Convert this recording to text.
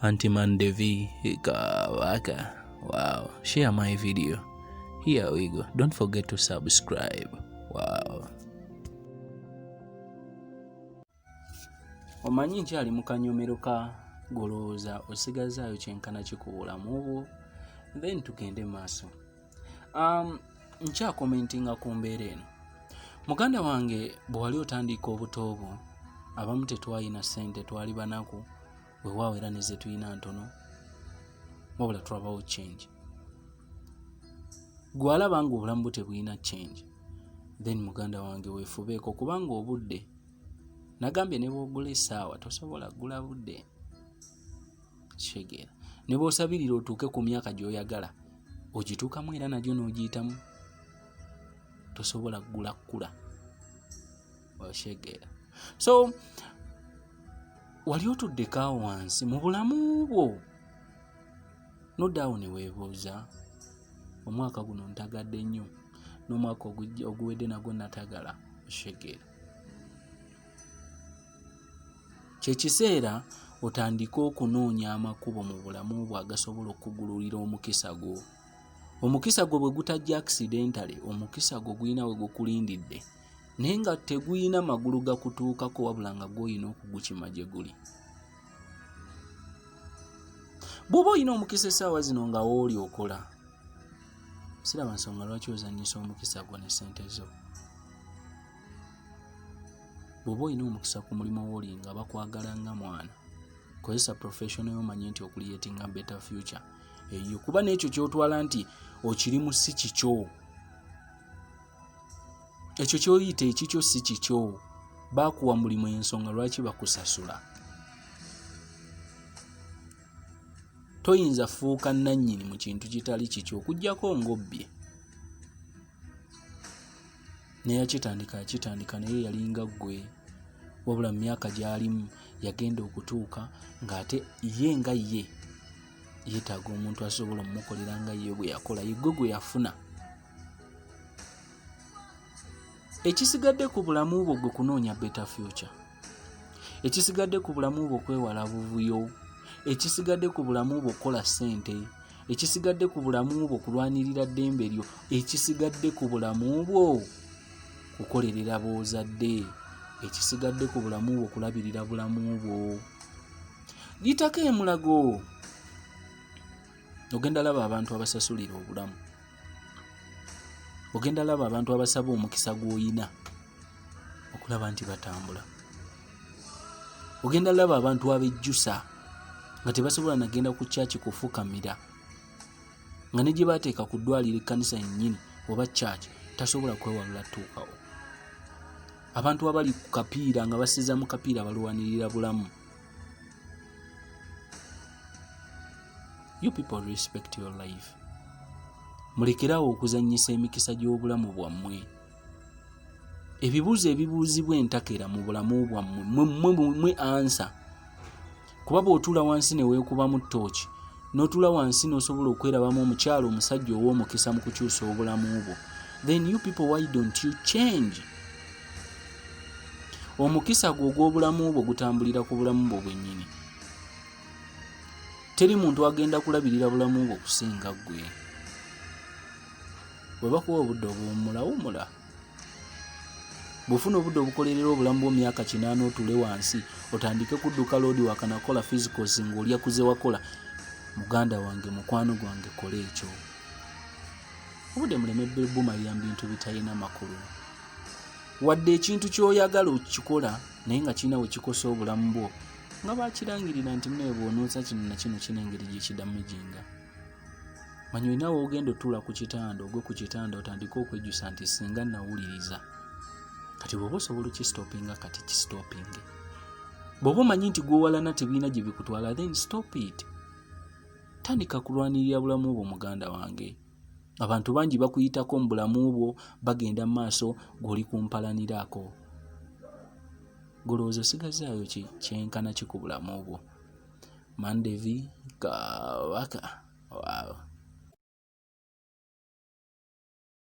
Auntie Mandevi Kabaka. Wow, share my video. Here we go. Don't forget to subscribe. Wow. Omanyi nkyali mu kanyomero ka golowooza osigazaayo kyenkana kikuwulamu obwo then tugende maaso. um, nkyakomentinga ku mbeera eno muganda wange bwe wali otandiika obuto bwo abamu tetwalina ssente twali banaku wewaawo era neze tulina ntono wabula tulabawo change gwe alaba nga obulamu bwe tebulina change then muganda wange wefubeeko kubanga obudde nagambye ne bwogula essaawa tosobola gula budde kitegeera ne bwosabirira otuuke ku myaka gy'oyagala ogituukamu era nagyo n'ogiyitamu tosobola kugula kukula okitegeera so wali otuddeko awo wansi mu bulamu bwo nodaawo ne weebuuza omwaka guno ntagadde nnyo n'omwaka oguwedde nagwo natagala okitegeera Kye kiseera otandike okunoonya amakubo mu bulamu bwo agasobola okukugululira omukisa gwo. Omukisa gwo bwe gutajja akisidentale, omukisa gwo gulina we gukulindidde naye nga tegulina magulu gakutuukako wabula nga gwolina okugukima gye guli. Bw'oba olina omukisa essaawa zino nga wooli okola, siraba nsonga lwaki ozannyisa omukisa gwo ne ssente zo. bw'oba olina omukisa ku mulimu wooli nga bakwagala nga mwana kozesa professional yomanye nti okuliyetinga better future eyo kuba n'ekyo kyotwala nti okiri mu si kikyo ekyo kyoyita ekikyo si kikyo bakuwa mulimu ensonga lwaki bakusasula toyinza fuuka nannyini mu kintu kitali kikyo okugyako ng'obbye neyakitandika yakitandika naye yalinga gwe wabula mu myaka gyalimu yagenda okutuuka ng'ate ye nga ye yeetaaga omuntu asobola omukolera nga ye bwe yakola yegwe gwe yafuna ekisigadde ku bulamu bwo gwe kunoonya beta future ekisigadde ku bulamu bwo kwewala buvuyo ekisigadde ku bulamu bwo kukola ssente ekisigadde ku bulamu bwo kulwanirira ddembe lyo ekisigadde ku bulamu bwo kukolerera boozadde ekisigadde ku bulamu bwo kulabirira bulamu bwo yitako emulago ogenda laba abantu abasasulira obulamu ogenda laba abantu abasaba omukisa gw'oyina okulaba nti batambula ogenda laba abantu abejjusa nga tebasobola nagenda ku kyaki kufukamira nga ne gye bateeka ku ddwaliro ekkanisa yennyini oba kyaki tasobola kwewalula tuukawo abantu abali ku kapiira nga basiza mu kapiira balwanirira bulamu you people respect your life mulekerawo okuzanyisa emikisa gy'obulamu bwammwe ebibuuzo ebibuuzibwa entakera mu bulamu bwammwe mwemwe ansa kuba bw'otuula wansi ne weekubamu ttooki n'otuula wansi n'osobola okwerabamu omukyalo omusajja ow'omukisa mu kukyusa obulamu bwo then you people why don't you change omukisa gwo ogw'obulamu bwo gutambulira ku bulamu bwo bwennyini teri muntu agenda kulabirira bulamu bwo kusinga ggwe bwe bakuwa obudde obuwummula wummula bwofuna obudde obukolerera obulamu bwomyaka kinaana otule wansi otandike kudduka loodi wakanakola physicals ngaolyakuze wakola muganda wange mukwano gwange kola ekyo obude muleme bumalira mu bintu bitalina makulu wadde ekintu kyoyagala okukikola naye nga kirina wekikosa obulamu bwo nga bakirangirira nti munaye bwonoonsa kino nakino kino engeri gyekidamujinga manyi olina woogenda otuula ku kitanda ogwe ku kitanda otandike okwejjusa nti singa nawuliriza kati bwoba osobola okistopinga kati kistopinge bwoba omanyi nti gwowalana tebiina gyebikutwala then stop it Tandika kulwanirira bulamu bwo muganda wange. Abantu bangi bakuyitako mu bulamu bwo bagenda mu maaso gw'oli kumpalaniraako. Golowooza osigazzaayo ki kyenkana ki ku bulamu bwo? Mandevi Kabaka. Wow.